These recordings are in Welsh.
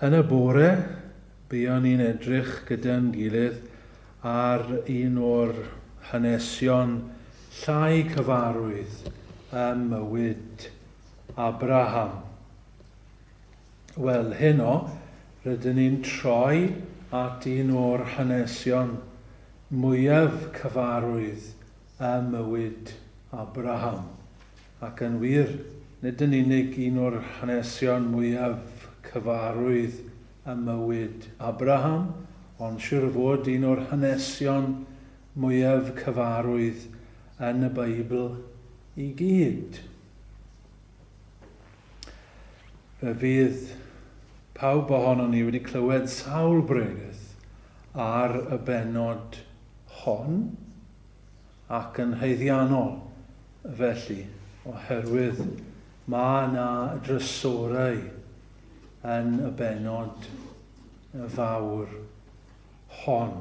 Yn y bore, buon ni'n edrych gyda'n gilydd ar un o'r hanesion llai cyfarwydd ym mywyd Abraham. Wel, heno, rydyn ni'n troi at un o'r hanesion mwyaf cyfarwydd ym mywyd Abraham. Ac yn wir, nid yn unig un o'r hanesion mwyaf cyfarwydd ym mywyd Abraham, ond siŵr o fod un o'r hanesion mwyaf cyfarwydd yn y Beibl i gyd. Fe fydd pawb ohonon ni wedi clywed sawl bregeth ar y bennod hon, ac yn haeddiannol felly oherwydd mae yna drysorau yn y bennod fawr hon.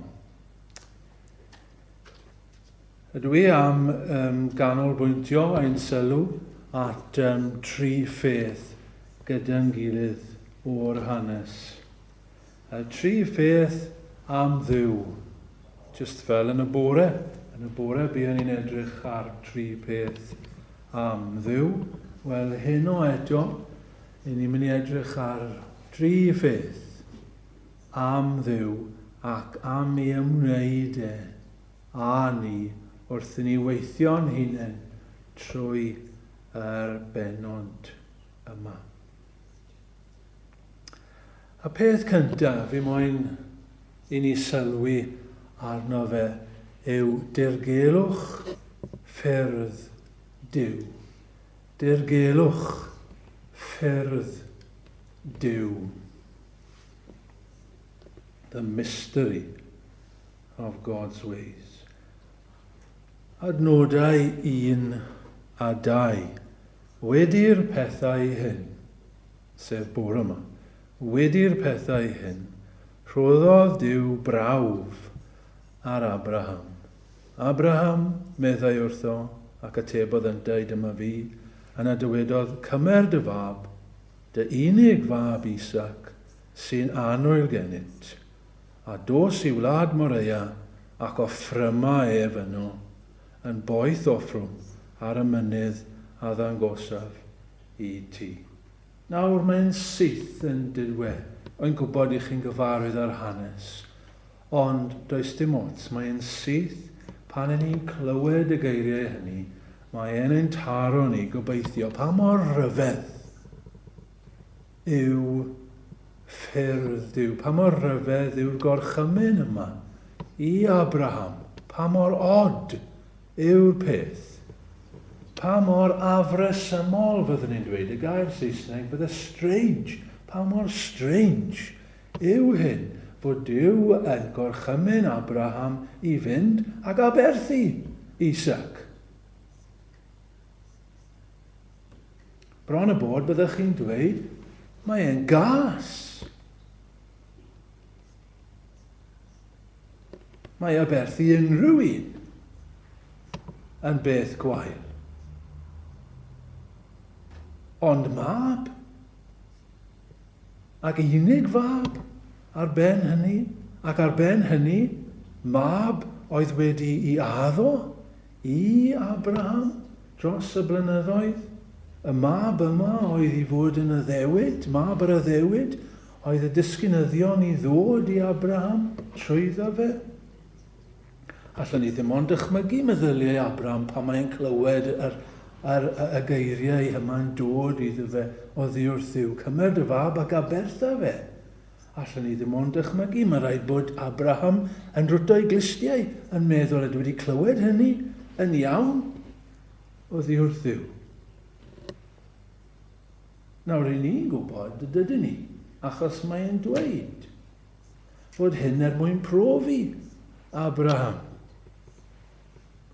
Ydw i am um, ganolbwyntio ein sylw at um, tri pheth gyda'n gilydd o'r hanes. Y tri pheth am Dduw. Jyst fel yn y bore, yn y bore buon ni'n edrych ar tri pheth am Dduw. Wel, heno eto, i ni'n mynd i edrych ar dri pheth am Dduw ac am ei ymwneud e a ni wrth i ni weithio'n hunain trwy yr benod yma. Y peth cyntaf fi moyn i ni sylwi arno fe yw dirgelwch ffyrdd Duw. Dirgelwch ffyrdd Duw. The mystery of God's ways. Adnodau 1 a 2. Wedi'r pethau hyn, sef bore 'ma, wedi'r pethau hyn, rhoddodd Duw brawf ar Abraham. Abraham, meddai wrtho, ac atebodd yntau, Dyma fi. Yna dywedodd, Cymer dy fab, dy unig fab Isaac, sy'n anwyl genyt, a dos i wlad Morea, ac offryma ef yno. yn boeth offrwm ar y mynydd a ddangosaf i ti. Nawr, mae'n syth yn dirwe, rwy'n gwybod i chi'n gyfarwydd â'r hanes, ond does dim ots, mae'n syth pan yn ni'n clywed y geiriau hynny, mae e'n ein taro ni, gobeithio, pa mor ryfedd! yw ffyrdd Duw. Pa mor rhyfedd yw'r gorchymyn yma i Abraham! Pa mor od yw'r peth! Pa mor afresymol, fyddwn ni'n dweud, y gair Saesneg, fydde strange, pa mor strange yw hyn fod Duw yn gorchymyn Abraham i fynd ac aberthu Isaac. Bron a bod byddech chi'n dweud, mae e'n gas! Mae aberth i unrhyw un yn beth gwael. Ond mab, ac unig fab, ar ben hynny, ac ar ben hynny, mab oedd wedi i addo I Abraham, dros y blynyddoedd, y mab yma oedd i fod yn addewid, mab yr addewid, oedd y disgynyddion i ddod i Abraham trwyddo fe. Allwn ni ddim ond dychmygu meddyliau Abraham pan mae'n clywed yr, yr, y geiriau yma'n dod iddo fe oddi wrth Dduw, cymer dy fab ac abertha fe. Allwn ni ddim ond dychmygu, mae'n rhaid bod Abraham yn rwto'i glustiau, yn meddwl, ydw wedi clywed hynny yn iawn oddi wrth Dduw. Nawr, i ni'n gwybod, dydyn ni, achos mae'n dweud fod hyn er mwyn profi Abraham.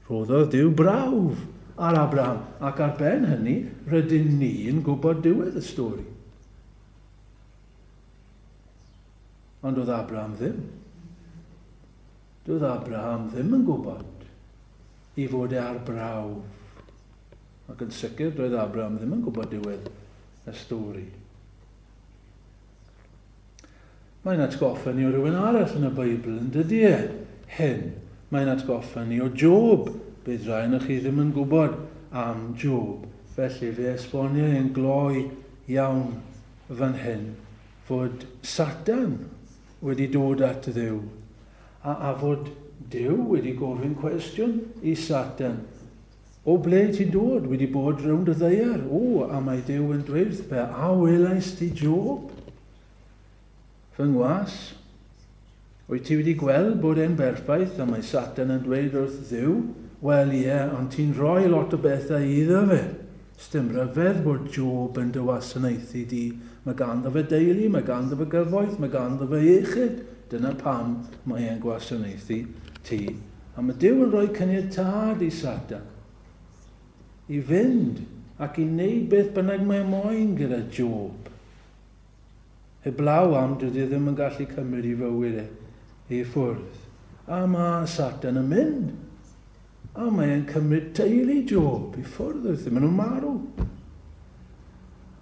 Rhoddodd Dyw brawf ar Abraham, ac ar ben hynny, rydyn ni'n gwybod diwedd y stori. Ond doedd Abraham ddim. Doedd Abraham ddim yn gwybod i fod e ar brawf. Ac yn sicr, doedd Abraham ddim yn gwybod diwedd y stori. Mae'n atgoffa ni o rywun arall yn y Beibl, yn dydy e? Hyn. Mae'n atgoffa ni o Job. Bydd rhain o'ch chi ddim yn gwybod am Job. Felly fe esbonio e'n gloi iawn fan hyn fod Satan wedi dod at Dduw, a, a fod Duw wedi gofyn cwestiwn i Satan. O ble ti'n dod? Wedi bod rownd y ddeiar? O, a mae Duw yn dweud wrth pe, a welais ti Job? Fy ngwas? Wyt ti wedi gweld bod e'n berffaith a mae Satan yn dweud wrth Dduw, 'Wel ie, ond ti'n rhoi lot o bethau iddo fe. Sdim rhyfedd bod Job yn dy wasanaethu di. Mae ganddo fe deulu, mae ganddo fe gyfoeth, mae ganddo fe iechyd. Dyna pam mae e'n gwasanaethu ti. A mae Duw yn rhoi caniatâd i Satan i fynd ac i wneud beth bynnag mae moyn gyda Job. Heblaw am dydi e ddim yn gallu cymryd i fywyd e i ffwrdd. A mae Satan yn mynd. A mae e'n cymryd teulu Job i ffwrdd wrth i maen nhw'n marw.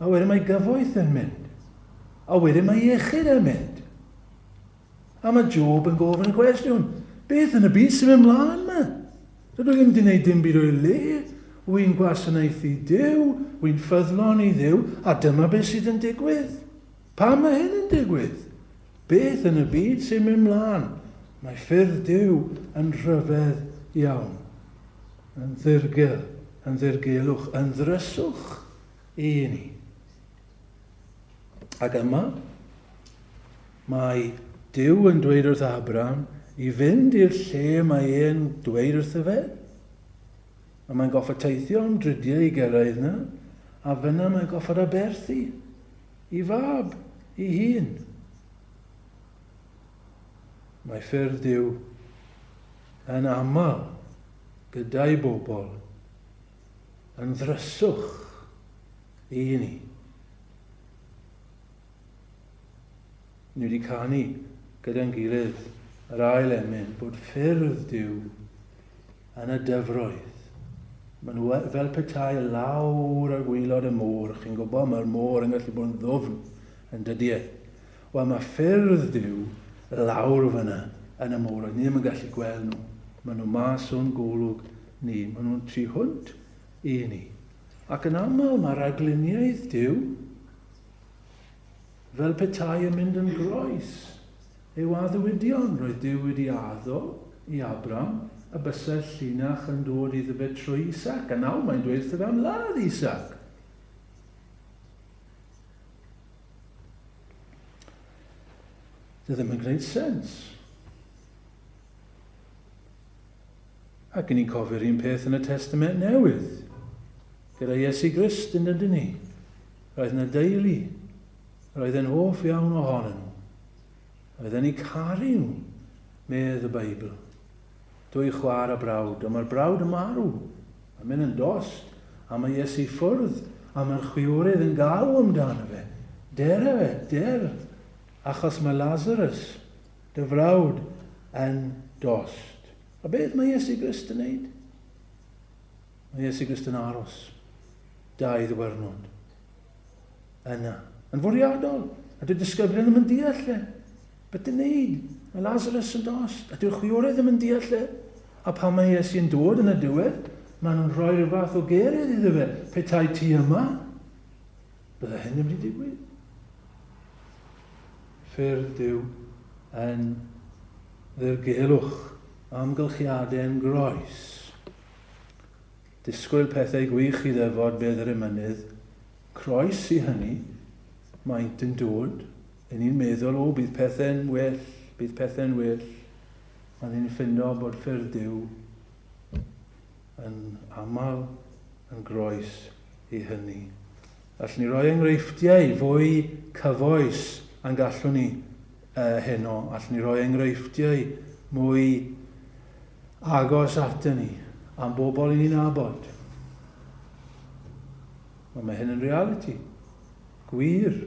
A wedyn mae gyfoeth yn mynd. A wedyn mae iechyd yn mynd. A mae Job yn gofyn y cwestiwn, beth yn y byd sy'n mynd mlaen yma? Dydw i ddim wedi gwneud dim byd o'i le, wy'n gwasanaethu Duw, wy'n ffyddlon i Dduw, a dyma beth sydd yn digwydd. Pam mae hyn yn digwydd? Beth yn y byd sy'n mynd mlaen? Mae ffyrdd Duw yn rhyfedd iawn, yn ddirgel, yn ddirgelwch, yn ddryswch i ni. Ac yma, mae Dyw yn dweud wrth Abraham i fynd i'r lle mae e'n dweud wrtho fe, a mae'n goffod teithio am drydiau i gyrraedd yna, a fyna mae'n goffod aberthu i fab i hun. Mae ffyrdd Dyw yn aml gyda'i bobl yn ddryswch Y'n ni. Ni wedi canu gyda'n gilydd yr ail emyn bod ffyrdd Duw yn y dyfroedd. Mae nhw e- fel petai lawr ar gwylod y môr, chi'n gwybod, mae'r môr yn gallu bod yn ddwfn yn dydy e. Wel, mae ffyrdd Duw lawr fyna yn y môr, ni ddim yn gallu gweld nhw. Mae nhw mas o'n golwg ni. Mae nhw'n 300 I ni. Ac yn aml mae rhagluniaeth Duw, fel petai yn mynd yn groes, yw addewidion. Roedd Duw wedi addo i Abram y bysai'r llinach yn dod iddo fe trwy Isaac, a nawr mae'n dweud wrtho fe am ladd Isaac. Dwi ddim yn gwneud sens. Ac yn ni'n cofio'r un peth yn y Testament Newydd. Gyda Iesu Grist yn dydyn ni. Roedd yna deulu. Roedd yn hoff iawn ohonyn nhw. Roedd yn ei caru nhw, medd y Beibl. Dwy chwar a brawd, ond mae'r brawd yn marw. Mae'n mynd yn dost, a mae Iesu ffwrdd, a mae'r chwiorydd yn galw amdano fe. Der efe, der, achos mae Lazarus Dy frawd yn dost. A beth mae Iesu Grist yn neud? Mae Iesu Grist yn aros. Dau ddwyrnod. Yna. Yn fwriadol. A dyw'r disgyblion ddim yn deall e. Beth yn neud? Mae Lazarus yn dost. A dyw'r chwiorydd ddim yn deall e. A pan mae Iesu yn dod yn y diwedd, maen nhw'n rhoi rhyw fath o gerydd iddo fe. Petai ti yma, Bydde hyn yn mynd i digwydd? Ffyrdd Duw yn ddirgelwch amgylchiadau yn groes. Disgwyl pethau gwych i ddefod bedd yr emynydd. Croes i hynny, maent yn dod, yn ni'n meddwl, o, bydd pethau'n well, bydd pethau'n well, a ni'n ffindo bod ffyrdd Duw yn aml yn groes i hynny. Allwn ni roi enghreifftiau fwy cyfoes yn gallwn ni uh, heno. Allwn ni roi enghreifftiau mwy agos atyn ni am bobl i ni'n abod. Ond mae hyn yn reality. Gwir.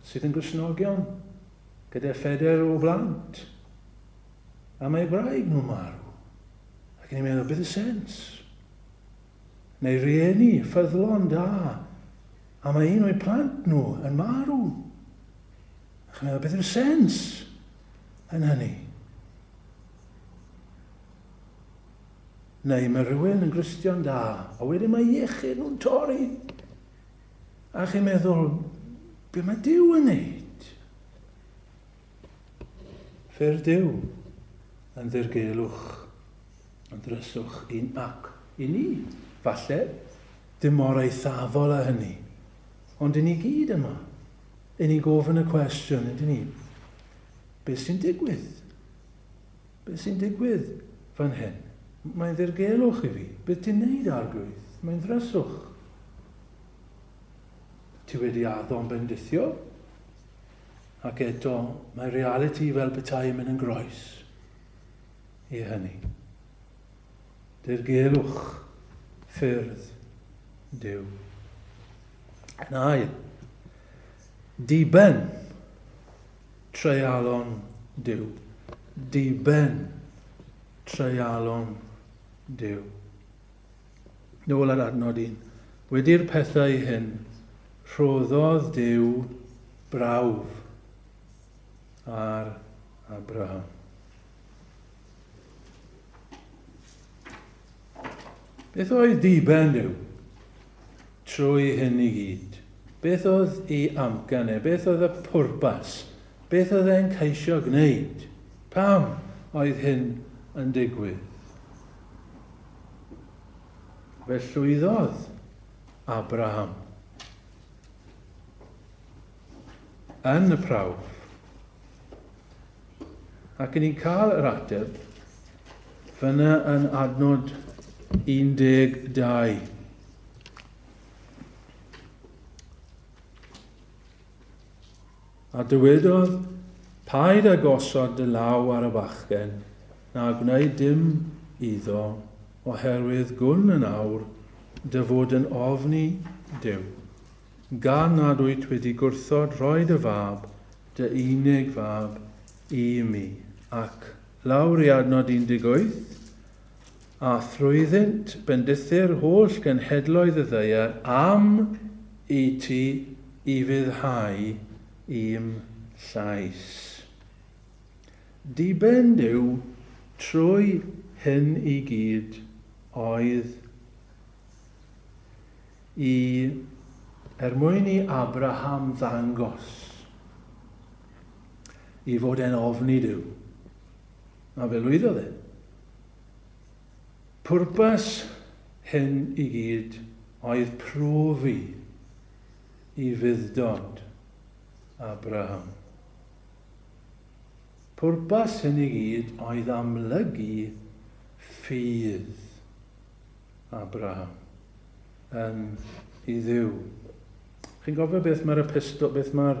Sydd yn gysnogion. Gyda phedair o blant. A mae braig nhw marw. Ac yn ei meddwl, beth y sens? Mae rhieni ffyddlon da, a mae un o'i plant nhw yn marw. Ac yn meddwl, beth yw'r sens yn hynny? Neu mae rhywun yn Gristion da, a wedyn mae iechyd nhw'n torri. A chi'n meddwl, be mae Dyw yn neud? Ffyrdd Duw, yn ddirgelwch, yn ddryswch un ac i ni, falle, dim mor eithafol a hynny, ond i ni gyd yma, i ni gofyn y cwestiwn, ydyn ni, beth sy'n digwydd? Beth sy'n digwydd fan hyn? Mae'n ddirgelwch i fi. Beth ti'n neud, arglwydd? Mae'n ddryswch. Ti wedi addo'n bendithio? Ac eto, mae realiti fel petai yn mynd yn groes i hynny. Dirgelwch ffyrdd Duw. Yn ail, diben treialon Duw. Diben treialon Duw. nôl ar adnod un. Wedi'r pethau hyn, rhoddodd Duw brawf ar Abraham. Beth oedd diben Duw trwy hyn i gyd? Beth oedd ei amcan e? Beth oedd y pwrpas? Beth oedd e'n ceisio gwneud? Pam oedd hyn yn digwydd? Fe llwyddodd Abraham yn y prawf. Ac yn ni'n cael yr ateb fyna yn adnod 12. A dywedodd, Paid â gosod dy law ar y bachgen, na gwneud dim iddo, oherwydd gwn yn awr dy fod yn ofn i Duw, gan nad wyt wedi gwrthod rhoi dy fab, dy unig fab, i mi. Ac, lawr i adnod 18, a thrwyddynt bendithu'r holl genhedloedd y ddaear am i ti ufuddhau i'm llais. Diben Duw trwy hyn i gyd oedd i er mwyn i Abraham ddangos i fod e'n ofni Duw. A fe lwyddodd e. Pwrpas hyn i gyd oedd profi i fudd-dod Abraham. Pwrpas hyn i gyd oedd amlygu ffydd Abraham yn i Dduw. Chi'n gofio beth mae'r epistol, beth mae'r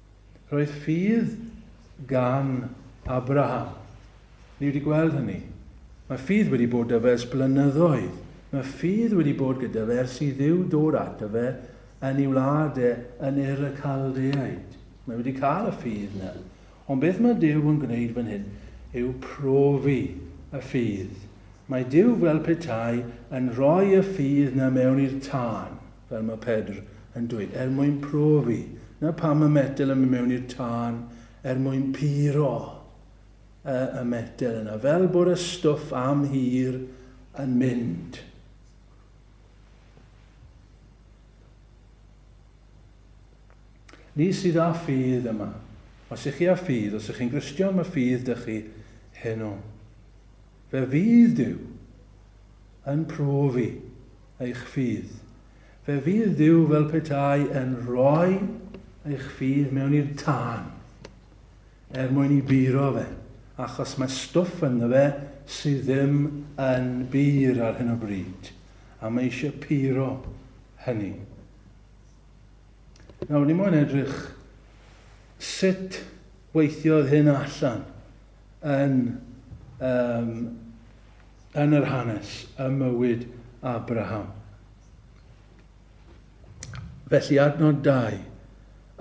Roedd ffydd gan Abraham. Ni wedi gweld hynny. Mae ffydd wedi bod dy fe ers blynyddoedd. Mae ffydd wedi bod gyda fe ers i Dduw dod ato fe yn ei wlad e yn Ur y Caldeaid. Mae wedi cael y ffydd yna. Ond beth mae Duw yn gwneud fan hyn yw profi y ffydd. Mae Duw fel petai yn rhoi y ffydd yna mewn i'r tân. fel mae Pedr yn dweud, er mwyn profi. Na pam mae metel yn mynd mewn i'r tân, er mwyn puro y, y metel yna, fel bod y stwff am hir yn mynd. Ni sydd â ffydd yma. Os ych chi â ffydd, os ych chi'n Gristion, mae ffydd dych chi heno. Fe fydd Duw yn profi eich ffydd. Fe fydd Duw fel petai yn rhoi eich ffydd mewn i'r tân, er mwyn i buro fe, achos mae stwff ynddo fe sydd ddim yn bur ar hyn o bryd, a mae eisiau puro hynny. Nawr, ni moyn edrych sut weithiodd hyn allan. yn um, yn yr hanes, y mywyd Abraham. Felly adnod 2.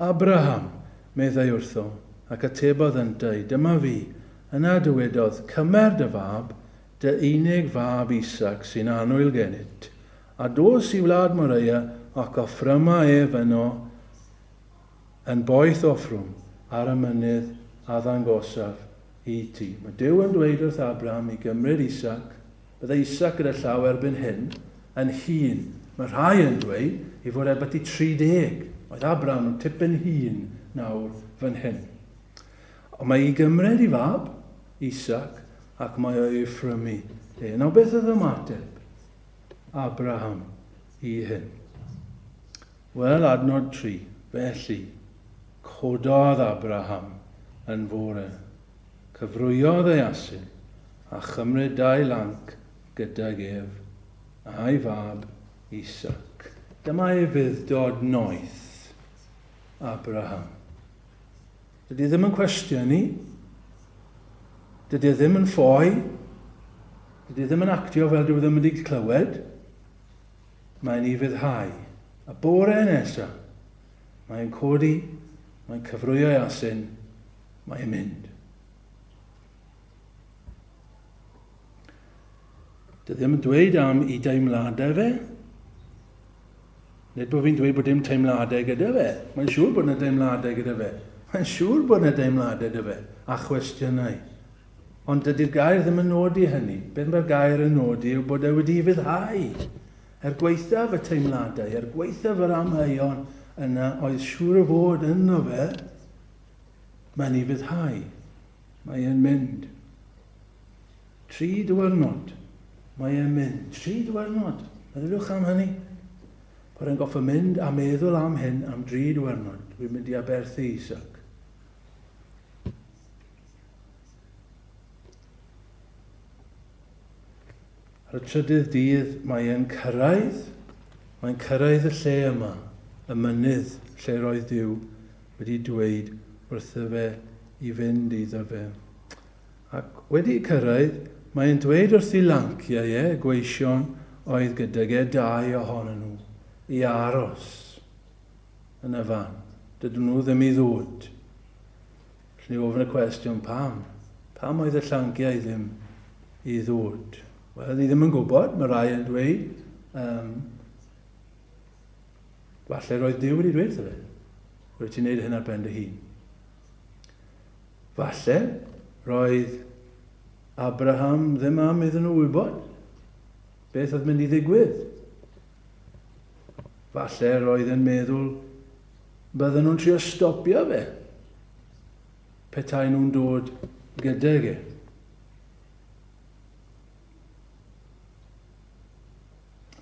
Abraham, meddai wrtho, ac atebodd yntau, dyma fi, yna dywedodd, cymer dy fab, dy unig fab Isaac sy'n anwyl gennyt, a dos i wlad Moreia ac offryma ef yno Yn boeth offrwm ar y mynydd a ddangosaf i ti. Mae Duw yn dweud wrth Abraham i gymryd Isaac. Byddai Isaac gyda llaw erbyn hyn, yn hŷn. Mae rhai yn dweud ei fod e byti 30. Oedd Abraham yn tipyn hŷn nawr fan hyn. Ond mae i gymryd i fab, Isaac, ac mae o i ffrymu e. Nawr beth oedd ymateb Abraham i hyn? Wel, adnod tri, Felly, cododd Abraham yn fore, cyfrwyodd ei asyn, a chymryd dau lanc gydag ef, a'i fab Isaac. Dyma ufudd-dod noeth Abraham. Dydy e ddim yn cwestiynu, dydy e ddim yn ffoi, dydy e ddim yn actio fel dyw e ddim wedi clywed, Mae'n ufuddhau. A bore nesa, mae'n codi, mae'n cyfrwyo'i asyn, mae'n mynd. Dwi ddim yn dweud am i deimladau fe. Nid bod fi'n dweud bod dim teimladau gyda fe. Mae'n siŵr bod yna deimladau gyda fe. Mae'n siŵr bod yna deimladau gyda fe. A chwestiynau. Ond dydy'r gair ddim yn nodi hynny. Beth mae'r gair yn nodi yw bod e wedi'i fuddhau. Er gwaethaf y teimladau, er gwaethaf yr amheuon yna oedd siŵr o fod ynddo fe, mae'n ei fuddhau. Mae e'n mynd. Tri diwrnod. Mae e'n mynd. Tri diwrnod. Meddyliwch am hynny. Bod e'n goffa mynd a meddwl am hyn am dri diwrnod. Dwi'n mynd i aberthu Isaac. Ar y trydydd dydd mae e'n cyrraedd, mae'n cyrraedd y lle yma, y mynydd lle roedd Duw wedi dweud wrtho fe i fynd iddo fe. Ac wedi cyrraedd, mae'n dweud wrth ei lanciau e, gweision oedd gydag e dau ohonyn nhw, i aros yn y fan. Dydyn nhw ddim i ddod. Felly ofn y cwestiwn pam? Pam oedd y llanciau ddim i ddod? Wel, ni ddim yn gwybod, mae rai yn dweud. Um, falle roedd Dyw wedi dweud fe. Roedd ti'n neud hyn ar ben dy hun. Falle roedd Abraham ddim am iddyn nhw wybod beth oedd mynd i ddigwydd. Falle roedd yn meddwl Bydden nhw'n trio stopio fe petai nhw'n dod gydag e.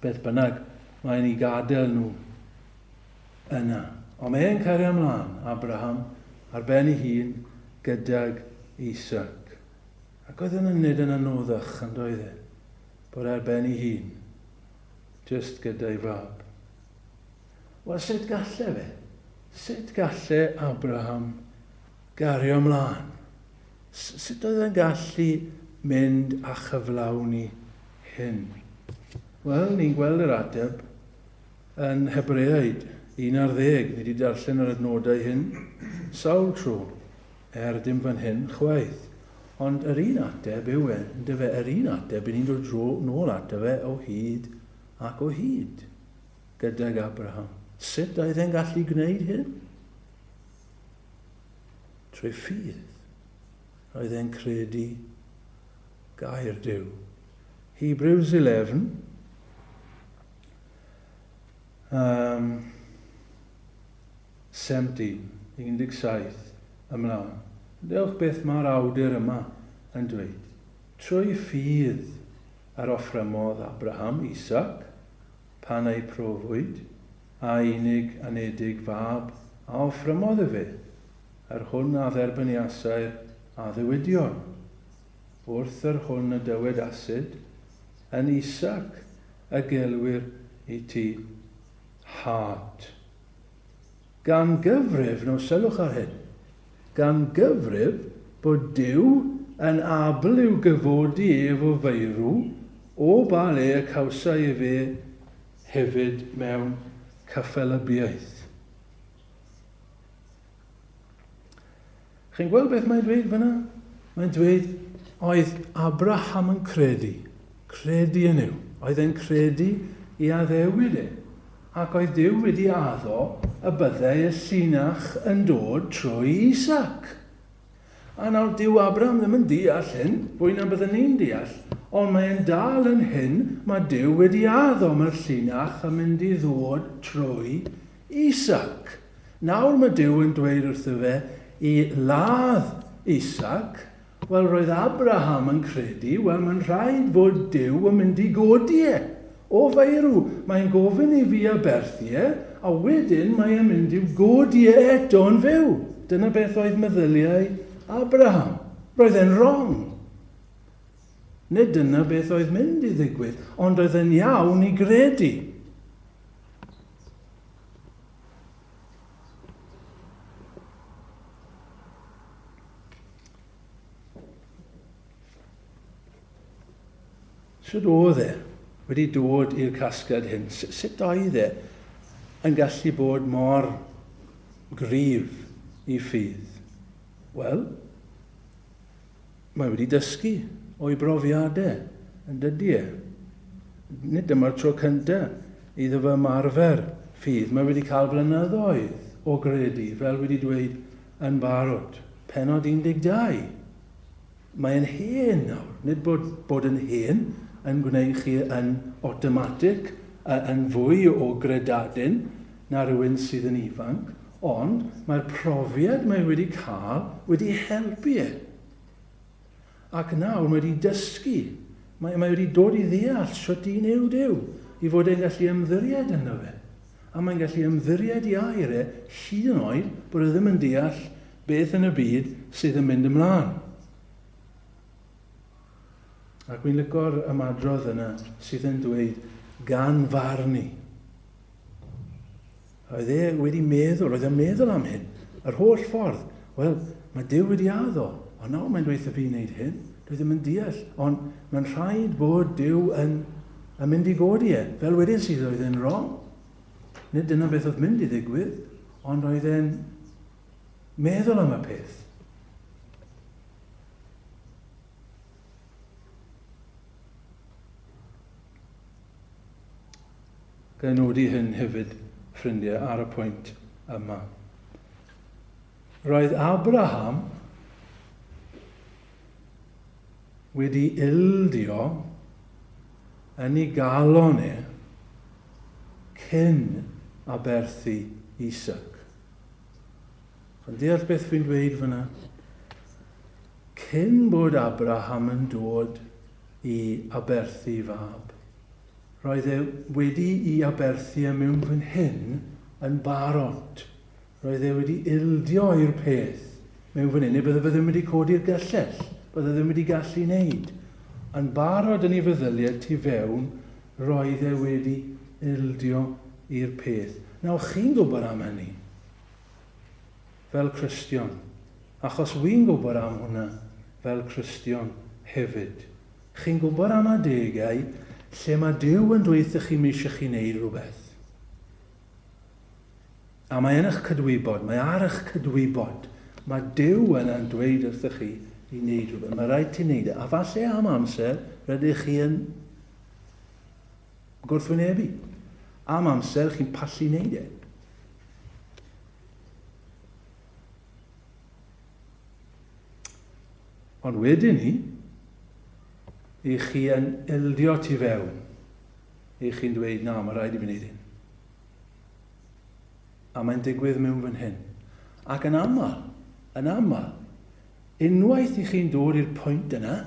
Beth bynnag, mae'n ei gadael nhw yna. Ond mae e'n cario ymlaen, Abraham, ar ben ei hun, gydag Isaac. Ac oedd yn ynyd yn anoddach, yn doedd e, bod ar ben ei hun, just gyda'i fab. Wel, sut galle fe? Sut galle Abraham gario mlaen? Sut oedd e'n gallu mynd a chyflawni hyn? Wel, ni'n gweld yr ateb yn Hebreaid 11. Ni wedi darllen yr adnodau hyn sawl tro er dim fan hyn chwaith. Ond yr un ateb yw e, yn dyfe, yr un ateb, i ni'n dod dro nôl ato fe o hyd ac o hyd. gydag Abraham. Sut oedd e'n gallu gwneud hyn? Trwy ffydd. Roedd e'n credu gair Duw. Hebrews 11. Um, 17, 17 ymlaen. Dewch beth mae'r awdur yma yn dweud. Trwy ffydd yr offrymodd Abraham Isaac Pan ei profwyd, a unig anedig fab a offrymodd y fe, yr hwn a dderbyniasai'r addewidion. Wrth yr hwn y dywed Asid, Yn Isaac y gelwir i ti, Hât. Gan gyfrif, nawr sylwch ar hyn, gan gyfrif bod Duw yn abl i'w gyfodi ef o feirw, o ba le y cawsai efe hefyd mewn cyffelybiaeth. Chi'n gweld beth mae'n dweud fyna? Mae'n dweud, oedd Abraham yn credu, credu yn yw. Oedd e'n credu i addewid e. Ac oedd Dyw wedi addo y byddai y llinach yn dod trwy Isaac. A nawr dyw Abraham ddim yn deall hyn, fwy na byddwn ni'n deall, ond mae'n dal yn hyn, mae Dyw wedi addo mae'r llinach yn mynd i ddod trwy Isaac. Nawr mae Duw yn dweud wrtho fe i ladd Isaac, wel roedd Abraham yn credu, wel mae'n rhaid fod Duw yn mynd i godi e, o faerw, mae'n gofyn i fi aberthu e, a wedyn mae e'n mynd i'w godi e eto yn fyw. Dyna beth oedd meddyliau Abraham. Roedd e'n wrong. Nid dyna beth oedd mynd i ddigwydd, ond oedd e'n iawn i gredu. Sut oedd e wedi dod i'r casgliad hyn? Sut oedd e yn gallu bod mor gryf i ffydd? Wel, Mae wedi dysgu o'i brofiadau, yn dydy e. Nid dyma'r tro cyntaf iddo fo ymarfer ffydd. Mae wedi cael blynyddoedd o gredu, fel wedi dweud yn barod. Pennod 12. Mae e'n hen nawr. Nid bod bod yn hen yn gwneud chi yn awtomatig yn fwy o gredadun, na rywun sydd yn ifanc, ond mae'r profiad mae wedi cael wedi helpu e. Ac nawr mae wedi dysgu, mae, mae wedi dod i ddeall sut i wneud yw, i fod e'n gallu ymddiried yno fe. A mae'n gallu ymddiried i air e, hyd yn oed bod e ddim yn deall beth yn y byd sydd yn mynd ymlaen. Ac mi'n lygo'r ymadrodd yna sydd yn dweud gan farn i. Oedd e wedi meddwl, oedd e'n meddwl am hyn, yr holl ffordd. Wel, mae Dyw wedi addo, ond nawr mae'n dweud y fi wneud hyn, dwi ddim yn deall, ond mae'n rhaid bod Dyw yn, yn mynd i godi e. Fel wedyn sydd oedd e'n wrong. Nid dyna beth oedd mynd i ddigwydd, ond oedd e'n meddwl am y peth. Ga'i nodi hyn hefyd, ffrindiau, ar y pwynt yma. Roedd Abraham wedi ildio yn ei galon e cyn aberthu Isaac. Chi'n deall beth fi'n dweud fyna? Cyn bod Abraham yn dod i aberthu fab, roedd e wedi i aberthu e mewn fan hyn yn barod. Roedd e wedi ildio i'r peth mewn fan hyn, neu bydde fe ddim wedi codi'r gyllell. Bydde ddim wedi gallu wneud. Yn barod yn ei feddyliau tu fewn, roedd e wedi ildio i'r peth. Nawr, chi'n gwybod am hynny. fel Cristion, achos wi'n gwybod am hwnna fel Cristion hefyd. Chi'n gwybod am adegau lle mae Duw yn dweud wrthych chi m'eisiau chi wneud rhywbeth. A mae yn eich cydwybod, mae ar eich cydwybod, mae Duw yna'n dweud wrthych chi i wneud rhywbeth. Mae rhaid ti wneud e. A falle am amser, rydych chi yn gwrthwynebu am amser chi'n pallu wneud e. Ond wedyn ni, i chi yn eldio tu fewn, i chi'n dweud, na, mae rhaid i fi wneud hyn. A mae'n digwydd mewn fan hyn. Ac yn aml, yn aml, unwaith i chi'n dod i'r pwynt yna,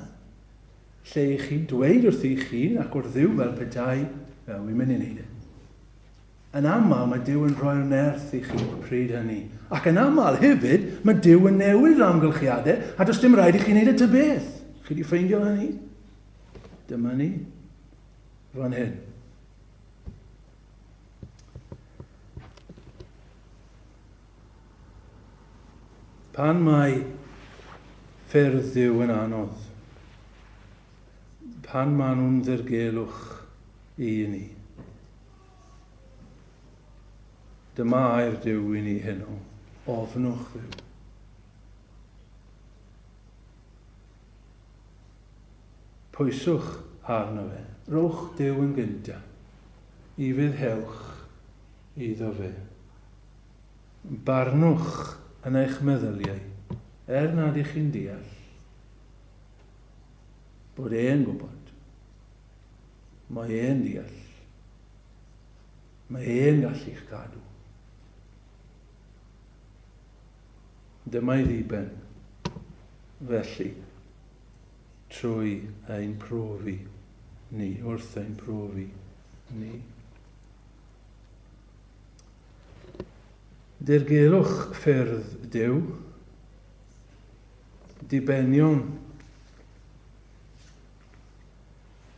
Lle i chi dweud wrthi'ch hun ac wrth Dduw fel petai fe wedi mynd i wneud e. Yn aml mae Duw yn rhoi'r nerth i chi y pryd hynny, ac yn aml hefyd mae Duw yn newid yr amgylchiadau a does dim rhaid i chi wneud y ty beth. Chi wedi ffeindio hynny? Dyma ni. Fan hyn. Pan mae ffyrdd Dduw yn anodd, pan maen nhw'n ddirgelwch i ni. Dyma air Duw i ni heno, ofnwch Dduw. Pwyswch arno fe, rowch Duw yn gynta, i fydd hewch iddo fe. Barnwch yn eich meddyliau, er nad ych chi'n deall bod e'n gwybod. Mae e'n deall. Mae e'n gallu'ch cadw. Dyma'i ddiben, felly, trwy ein profi ni, wrth ein profi ni. Dirgelwch ffyrdd Duw, dibenion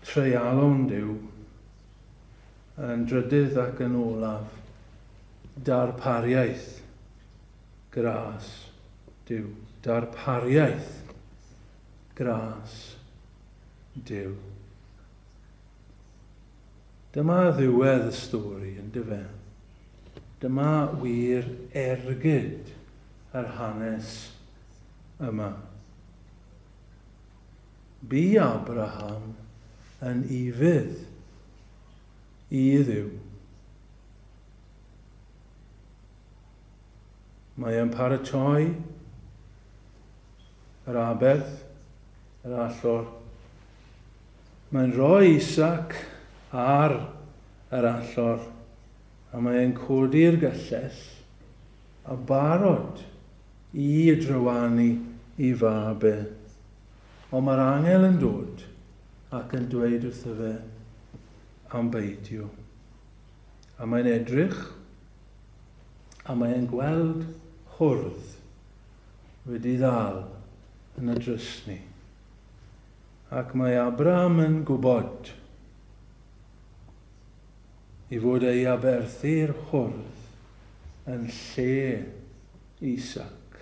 treialon Duw, yn drydydd ac yn olaf, darpariaeth gras Duw, darpariaeth gras Duw. Dyma ddiwedd y stori, yndyfe? Dyma wir ergyd yr hanes yma. Bu Abraham yn ifydd i Dduw. Mae e'n paratoi yr aberth, yr allor, Mae'n rhoi ei sac ar yr allor a mae e'n codi'r gyllell a barod i drywanu i fab e. Ond mae'r angel yn dod ac yn dweud wrtho fe am beidio. A mae'n edrych a mae e'n gweld hwrdd wedi ddal yn y drysni. Ac mae Abram yn gwybod ei fod ei aberthu'r hwrdd yn lle Isaac,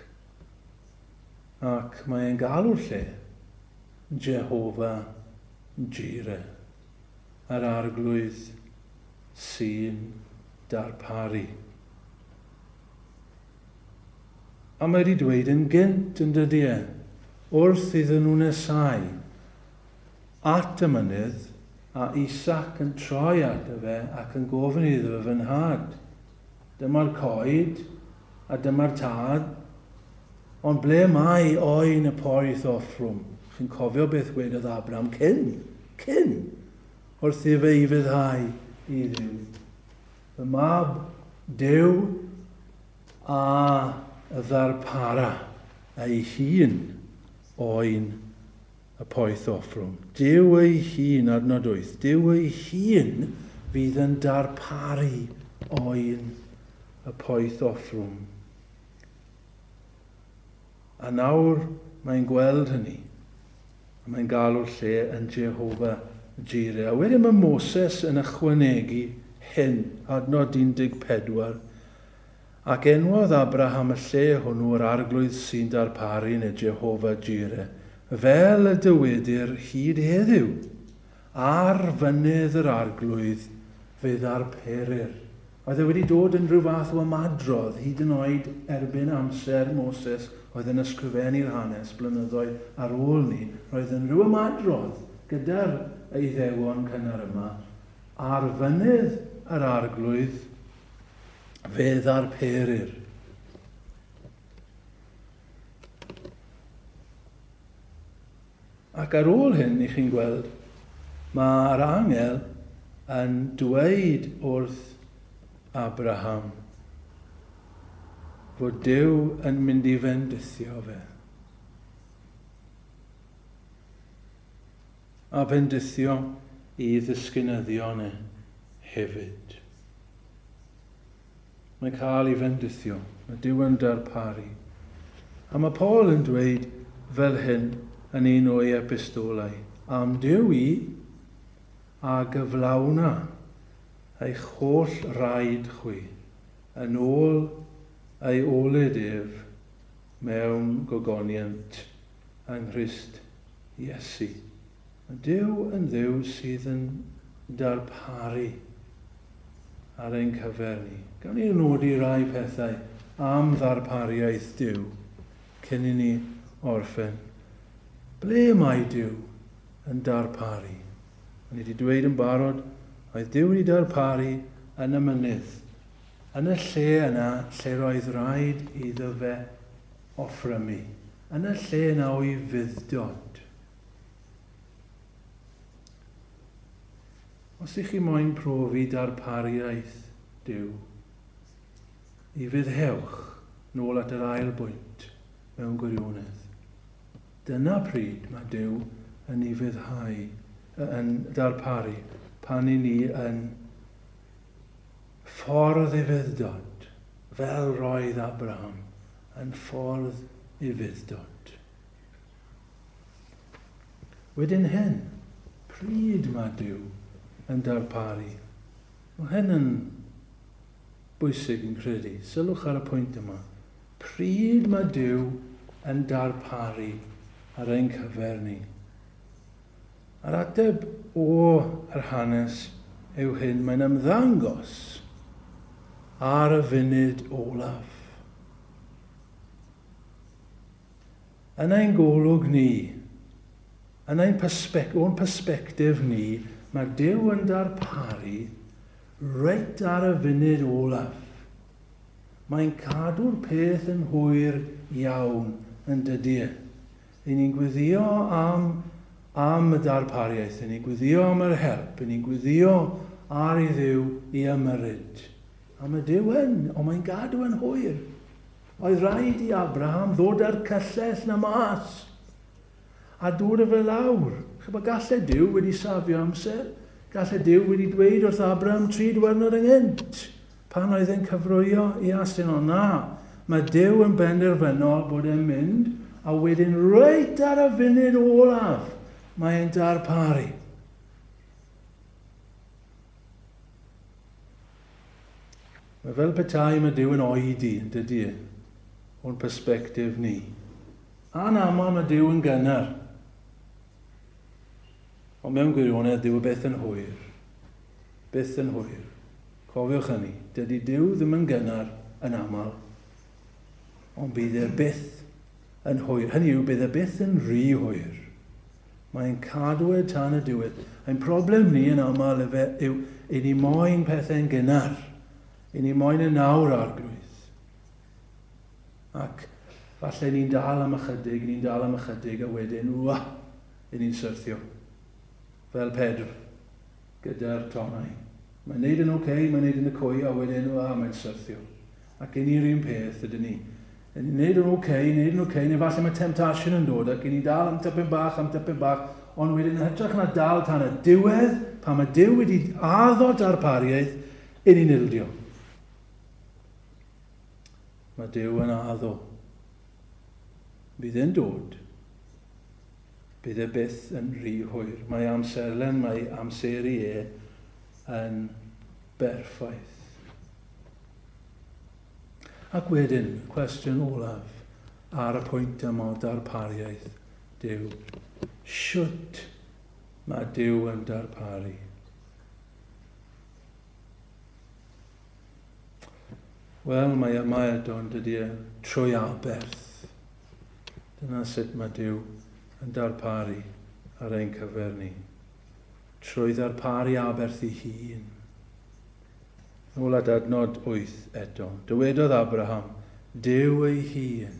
ac mae e'n galw'r lle Jehova Jireh, yr Arglwydd sy'n darparu. A mae di dweud yn gynt yn dydi e, wrth iddyn nhw nesáu at y mynydd, a Isac yn troi ato fe ac yn gofyn iddo fe, Fy nhad, dyma'r coed, a dyma'r tad, ond ble mae oen y poeth offrwm? Chi'n cofio beth wedodd Abram cyn, cyn, wrth i fe i fyddhau i Dduw. Y Mab Duw a ddarpara ei hun oen y poeth offrwm. Duw ei hun, adnod 8, Duw ei hun fydd yn darparu oen y poeth offrwm. A nawr mae'n gweld hynny, a mae'n galw'r lle yn Jehovah Jireh. A wedyn mae Moses yn ychwanegu hyn, adnod 14, Ac enwodd Abraham y lle hwnnw yr arglwydd sy'n darparu neu Jehovah Jireh, fel y dywedir hyd heddiw, Ar fynydd yr arglwydd fe ddarperir. Oedd e wedi dod yn rhyw fath o ymadrodd, hyd yn oed erbyn amser Moses oedd yn ysgrifennu'r hanes blynyddoedd ar ôl 'ny, roedd yn rhyw ymadrodd gyda'r Iddewon cynnar yma, ar fynydd yr Arglwydd fe ddarperir. Ac ar ôl hyn, y'ch chi'n gweld, mae'r angel yn dweud wrth Abraham fod Duw yn mynd i fendithio fe. A fendithio i ddisgynyddion e hefyd. Mae'n cael ei fendithio, mae Duw yn darparu. A mae Paul yn dweud fel hyn yn un o'i epistolau, am Duw i, a gyflawna eich holl raid chwi, yn ôl ei olud ef mewn gogoniant yng Nghrist Iesu. Duw yn Dduw sydd yn darparu ar ein cyfer ni. Gawn ni nodi rai pethau am ddarpariaeth Duw cyn i ni orffen. Ble mae Duw yn darparu? O'n i wedi dweud yn barod, oedd Duw wedi darparu yn y mynydd, yn y lle yna lle roedd rhaid iddo fe offrymu, yn y lle yna o'i fudd-dod. Os ych chi moyn profi darpariaeth Duw, ni fyddhewch nôl at yr ail bwynt mewn gwirionedd. Dyna pryd mae Duw yn ni fyddhau, yn darparu, pan i ni yn ffordd i fyddod, fel roedd Abraham yn ffordd i fyddod. Wedyn hen pryd mae Duw yn darparu. Mae hyn yn bwysig fi'n credu. Sylwch ar y pwynt yma. Pryd mae Duw yn darparu ar ein cyfer ni. A'r ateb o yr hanes yw hyn mae'n ymddangos ar y funud olaf. Yn ein golwg ni, yn ein persbect- o'n persbectif ni, mae Duw yn darparu reit ar y funud olaf. Mae'n cadw'r peth yn hwyr iawn, yn dydy e. Ry'n ni'n gwyddio am, am y darpariaeth, ry'n ni'n gwyddio am yr help, ry'n ni'n gwyddio ar i Dduw i ymyrryd. A mae Duw yn, ond mae'n gadw yn hwyr. Oedd rhaid i Abraham ddod â'r cyllell 'na mas, a dod â fe lawr. Chibod, galle Duw wedi safio amser. Galle Duw wedi dweud wrth Abraham tri dwyrnod ynghynt, pan oedd e'n cyfrwyo i asyn, ond na, mae Duw yn benderfynol bod e'n mynd, a wedyn reit ar y funud olaf, mae e'n darparu. Mae fel petai mae Duw yn oedi, yn dydy e, o'n persbectif ni. Anaml mae Duw yn gynnar. Ond mewn gwirionedd, Duw y byth yn hwyr. Byth yn hwyr. Cofiwch hynny, dydy Duw ddim yn gynnar yn aml, ond bydd e byth yn hwyr. Hynny yw, bydd e byth yn rhy hwyr. Mae'n cadw e tan y diwedd. Ein problem ni yn aml efe yw i ni moyn pethau'n gynnar. I ni moyn e nawr, Arglwydd. Ac falle ni'n dal am ychydig, ni'n dal am ychydig, a wedyn, wa, i ni'n syrthio. Fel Pedr, gyda'r tonnau. Mae'n neud yn oce, okay, mae'n neud yn y cwy, a wedyn, wa, mae'n syrthio. Ac i ni'r un peth, ydyn ni. Yn ni'n neud yn ok, neud yn ok, neu falle mae temptation yn dod ac i ni dal am typyn bach, am typyn bach, ond wedyn yn hytrach na dal tan y diwedd, pan mae Dyw wedi addo darpariaeth, i ni'n ildio. Mae Dyw yn addo. Bydd e'n dod. Bydd e byth yn rhy hwyr. Mae amserlen, mae amseru e yn berffaith. Ac wedyn, y cwestiwn olaf ar y pwynt yma o darpariaeth Duw. Shwt mae Duw yn darparu? Wel, mae yma eto yn dydy e, trwy aberth. Dyna sut mae Duw yn darparu ar ein cyfer ni. Trwy ddarparu aberth i hun. Nôl at adnod wyth eto. Dywedodd Abraham, Duw ei hun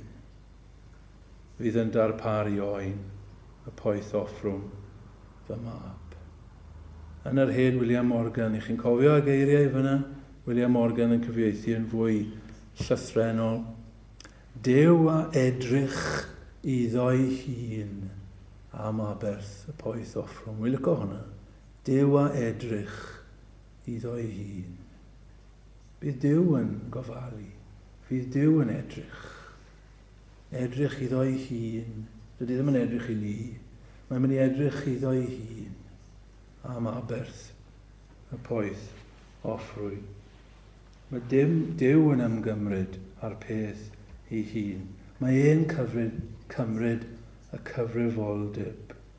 fydd yn darparu oen y poeth offrwm fy mab. Yn yr hen William Morgan, i chi'n cofio y geiriau fyna? William Morgan yn cyfieithu yn fwy llythrennol. Duw a edrych iddo'i hun am aberth y poeth offrwm. Wi'n licio hwnna. Duw a edrych Iddo'i hun. Bydd Duw yn gofalu. Fydd Duw yn edrych. Edrych iddo'i hun. Dydy ddim yn edrych i ni. Mae'n mynd i edrych iddo'i hun am aberth y poeth offrwy. Mae dim Duw yn ymgymryd â'r peth ei hun. Mae e'n cyfryd, cymryd y cyfrifoldeb.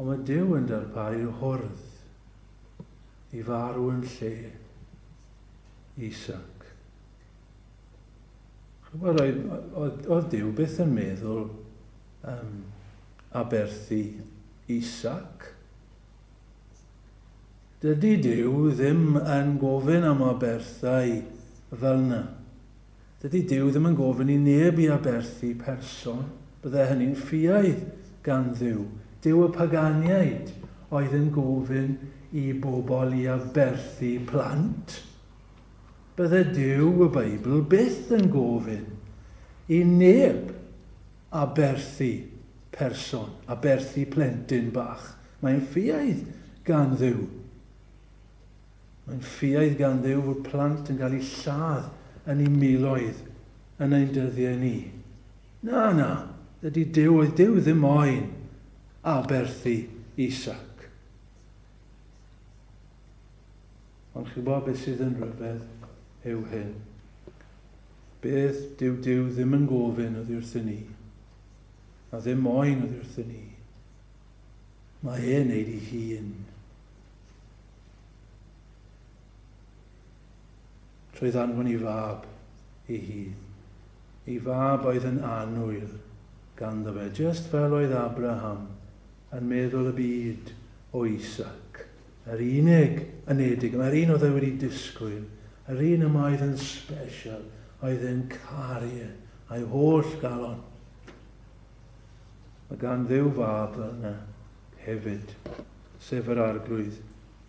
Ond mae Duw yn darparu hwrdd i farw yn lle Isaac. Chwbod, oedd Duw byth yn meddwl um, aberthu Isaac. Dydy Duw ddim yn gofyn am aberthau fel yna. Dydy Duw ddim yn gofyn i neb i aberthu person, bydde hynny'n ffiaidd gan Dduw. Duw y Paganiaid oedd yn gofyn i bobl i aberthu plant. Bydde Duw y Beibl byth yn gofyn i neb aberthu person, aberthu plentyn bach. Mae'n ffiaidd gan Dduw. Mae'n ffiaidd gan Dduw fod plant yn cael eu lladd yn eu miloedd yn ein dyddiau ni. Na, na, dydy Duw, oedd Duw ddim moyn aberthu Isaac. Ond chi'n gwybod beth sydd yn rhyfedd yw hyn. Beth dyw Duw ddim yn gofyn oddi wrthyn ni, a ddim moyn oddi wrthyn ni. Mae e'n neud ei hun. Roedd anfon i fab ei hun. Ei fab oedd yn annwyl ganddo fe, just fel oedd Abraham yn meddwl y byd o Isaac, yr unig anedig, mae'r un oedd e wedi disgwyl, yr un yma oedd yn special, oedd e'n caru e, a'i holl galon. Mae gan ddew fab fel yna, hefyd, sef yr Arglwydd,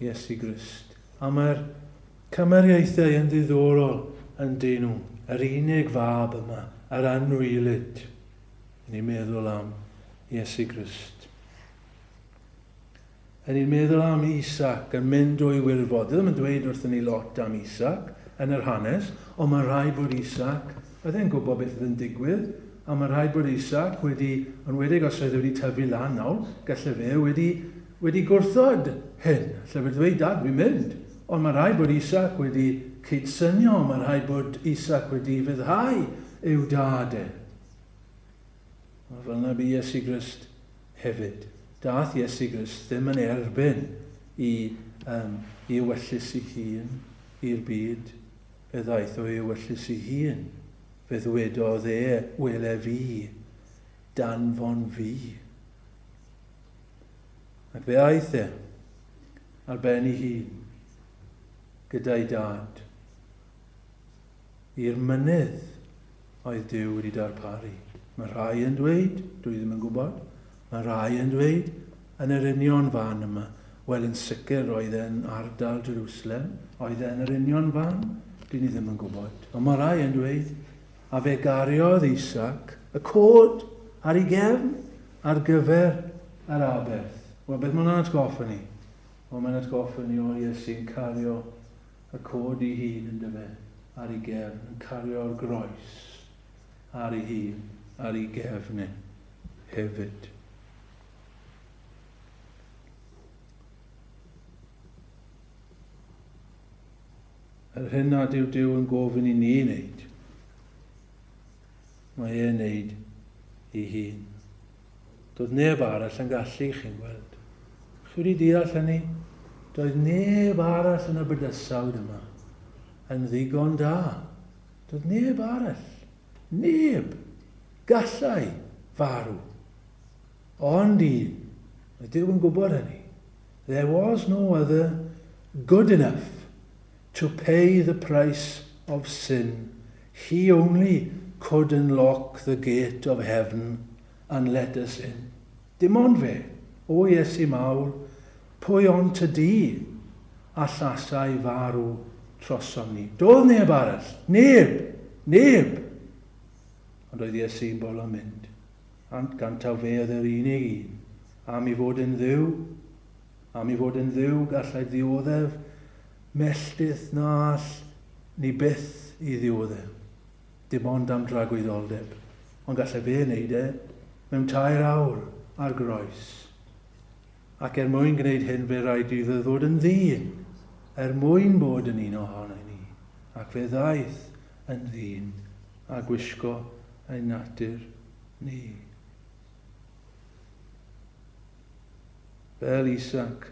Iesu Grist. A mae'r cymariaethau yn ddiddorol, yndyn nhw? Yr unig fab yma, yr anwylyd, yn ni'n meddwl am Iesu Grist. Yn ni'n meddwl am Isaac yn mynd o'i wirfodd. Dydym yn dweud wrthyn ni lot am Isaac yn yr hanes, ond mae'n rhaid bod Isaac Oedd e'n gwybod beth oedd yn digwydd, a mae'n rhaid bod Isaac wedi, enwedig os oedd e wedi tyfu lan nawr, gallai fe wedi, wedi gwrthod hyn. Allai fe ddweud, Dad, fi'n mynd. Ond mae'n rhaid bod Isaac wedi cydsynio, mae'n rhaid bod Isaac wedi fyddhau i'w dad e. A fel yna bu Iesu Grist hefyd. Dath Iesu Grist ddim yn erbyn i, um, i ewyllys ei hun, i'r byd, Fe ddaeth o'i ewyllys'i hun, fe ddwedodd e, Wele fi, danfon fi. Ac fe aeth e, ar ben ei hun, gyda'i dad, i'r mynydd, Oedd Duw wedi darparu? Mae rhai yn dweud, dwi ddim yn gwybod, mae rhai yn dweud, yn yr union fan yma. Wel, yn sicr, oedd e'n ardal Jerusalem. Oedd e yn yr union fan? Dyn ni ddim yn gwybod. Ond mae rhai yn dweud, a fe gariodd Isaac y cod ar ei gefn ar gyfer yr aberth. Wel, beth mae'n atgoffa ni? Wel, mae'n atgoffa ni o Iesu'n cario y cod ei hun yndyfe, ar ei gefn, yn cario'r groes ar ei hun, ar ei gefn e, hefyd. Yr hyn nad yw Dyw yn gofyn i ni wneud, mae e'n neud i hun. Doedd neb arall yn gallu, chi'n gweld. Chi wedi deall hynny? Doedd neb arall yn y bydysawd yma yn ddigon da. Doedd neb arall. Neb! Gallai farw. Ond un. Mae Dyw yn gwybod hynny. There was no other good enough. To pay the price of sin, He only could unlock the gate of heaven and let us in. Dim ond fe, O Iesu mawr, pwy ond Ty Di allasai farw trosom ni. Doedd neb arall, neb, neb! Ond oedd Iesu'n bolo mynd, ant gan taw fe oedd yr unig un am i fod yn Dduw, Am ei fod yn Dduw, gallai ddioddef melltith na all ni byth i ddioddef, dim ond am dragwyddoldeb, ond gallai fe wneud e mewn tair awr ar groes. Ac er mwyn gwneud hyn fe rhaid i ddydd fod yn ddyn, er mwyn bod yn un ohonau ni, ac fe ddaeth yn ddyn a gwisgo ein natur ni. Fel Isaac,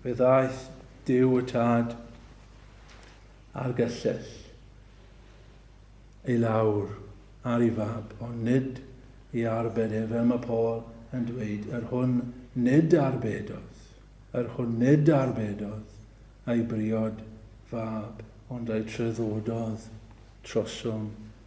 fe ddaeth Duw y Tad a'r gyllell i lawr ar ei fab, ond nid i arbed e, fel mae Paul yn dweud, yr hwn nid arbedodd, yr hwn nid arbedodd ei briod fab, ond ei treddododd trosom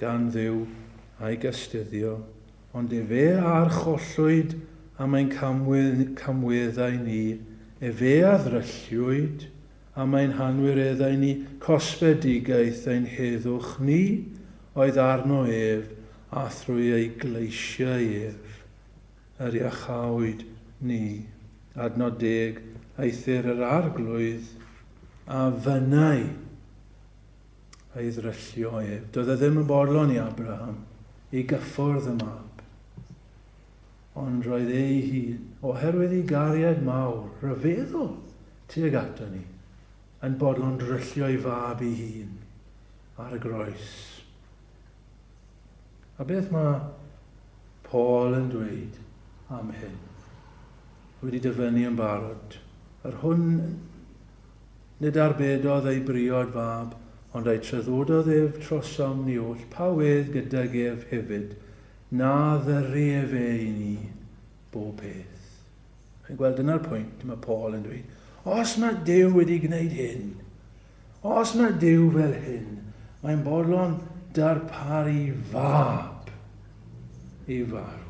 gan Dduw, a'i gastuddio, ond efe a archollwyd am ein camweddau ni, efe a ddrylliwyd am ein hanwireddau ni, cosfedigaeth ein heddwch ni oedd arno ef, a thrwy ei gleisiau ef yr iachawyd ni. Adnod deg, Eithr yr Arglwydd a fynnai. a'i ddryllio ef. Doedd e ddim yn bodlon i Abraham ei gyffwrdd y mab, ond roedd ei hun, oherwydd ei gariad mawr, rhyfeddol tuag ato ni, yn bodlon dryllio ei fab ei hun ar y groes. A beth mae Paul yn dweud am hyn? Wedi dyfynnu yn barod. Yr hwn Nid arbedodd ei briod fab, ond a'i treddododd ef trosom ni oll pa wedd gydag ef hefyd, na ddyru ef e i ni, bob peth. Chi'n gweld, dyna'r pwynt, mae Paul yn dweud, os mae Duw wedi gwneud hyn, os mae Duw fel hyn, mae'n bodlon darparu fab. i farw.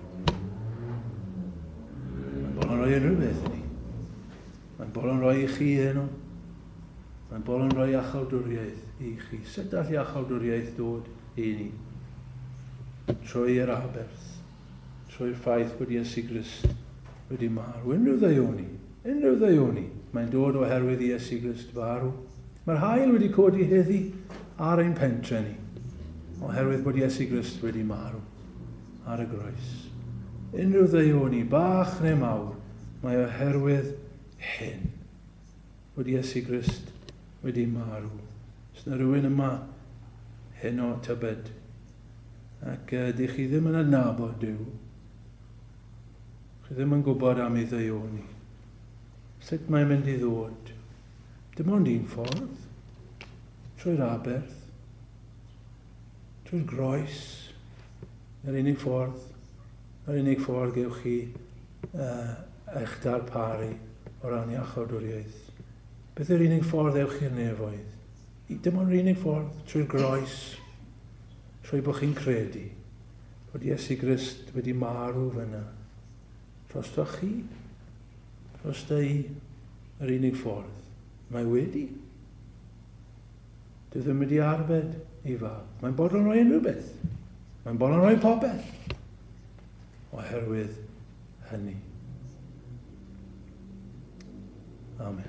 Mae'n bol yn rhoi unrhyw beth i ni. Mae'n bol yn rhoi i chi hyn o. Mae'n bol yn rhoi achaldwriaeth i chi. Sut all i achaldwriaeth dod i ni? Trwy yr aberth, trwy'r ffaith bod Iesu Grist wedi marw. Unrhyw ddeioni. Unrhyw ddeuoni, mae'n dod oherwydd i Iesu Grist farw. Mae'r haul wedi codi heddi ar ein pentre ni, oherwydd bod Iesu Grist wedi marw ar y groes. Unrhyw ddeuoni, bach neu mawr, mae oherwydd hyn, bod Iesu Grist wedi marw. Os yna rhywun yma heno tybed, ac uh, dych chi ddim yn adnabod Dyw, Chi ddim yn gwybod am ei ddeuoni. Sut mae'n mynd i ddod? Dim ond un ffordd. Trwy'r aberth. Trwy'r groes. Yr unig ffordd. Yr unig ffordd gewch chi uh, eich darparu o ran iachawdwriaeth. Beth yw'r unig ffordd ewch i'r nefoedd? Dim ond yr unig ffordd trwy'r groes, trwy bod chi'n credu. fod Iesu Grist wedi marw fyna. Drostoch chi? Drosta i yr unig ffordd. Mae wedi. Dwi ddim wedi arbed ei fab. Mae'n bodlon rhoi unrhyw beth. Mae'n bodlon rhoi popeth. Oherwydd hynny. Amen.